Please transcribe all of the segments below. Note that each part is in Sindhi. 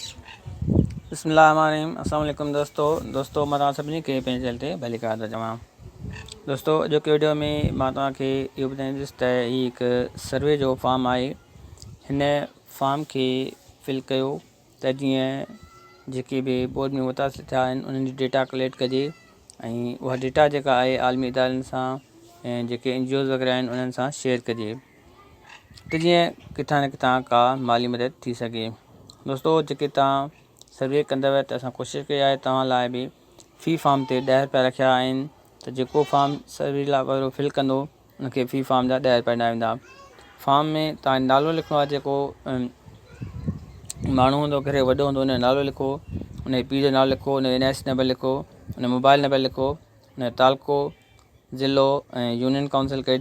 بسم الله الرحمن الرحيم السلام عليڪم دوستو دوستو مان توهان سڀني کي پنهنجي چينل تي ڀلي قدر چوان دوستو اڄوڪي ويڊيو ۾ مان توهان کي اهو ٻڌائيندس ته هي هڪ سروي جو فارم آهي هن فارم کي فل ڪيو ته جيئن جيڪي به بورڊ ۾ متاثر ٿيا آهن انهن جي ڊيٽا ڪليڪٽ ڪجي ۽ اها ڊيٽا جيڪا آهي عالمي ادارن سان ۽ جيڪي اين جي اوز وغيره آهن انهن سان شيئر ڪجي ته جيئن ڪٿان نه ڪٿان ڪا مالي مدد ٿي سگهي. دوستو جيڪي توهان سروي ڪندوء ته اسان ڪوشش ڪئي آهي توهان لاء به في فارم تي ڏهه رپيا رکيا آهن ته جيڪو فارم سروي لاء وارو فل ڪندو ان کي في فارم جا ڏهه رپيا ڏنا ويندا فارم ۾ توهان جو نالو لکڻو آهي جيڪو ماڻهو هوندو گهري وڏو هوندو ان جو نالو لکو ان جي پيء جو نالو لکو ان جو اين آء سي نمبر لکو ان جو موبائل نمبر لکو ان جو تعلقو ضلعو ۽ يونين ڪائونسل ڪهڙي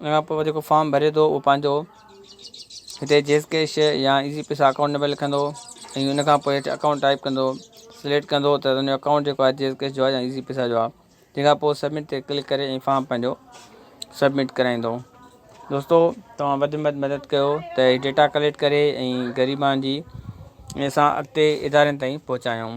ان کان پوء هو جيڪو فارم ڀري ٿو اهو پنهنجو هتي جيس ڪيش يا ايزي پيسا اڪائونٽ نمبر لکندو ۽ ان کان پوء هيٺ اڪائونٽ ٽائپ ڪندو سليڪٽ ڪندو ته ان جو اڪائونٽ جيڪو آهي جيس ڪيش جو آهي يا ايزي پيسا جو آهي تنهن کان پوء سبمٽ تي ڪلڪ ڪري ۽ فارم پنهنجو سبمٽ ڪرائيندو دوستو توهان وڌ ۾ وڌ مدد ڪيو ته هي ڊيٽا ڪليڪٽ ڪري ۽ غريبان جي اسان اڳتي ادارين تائين پهچايون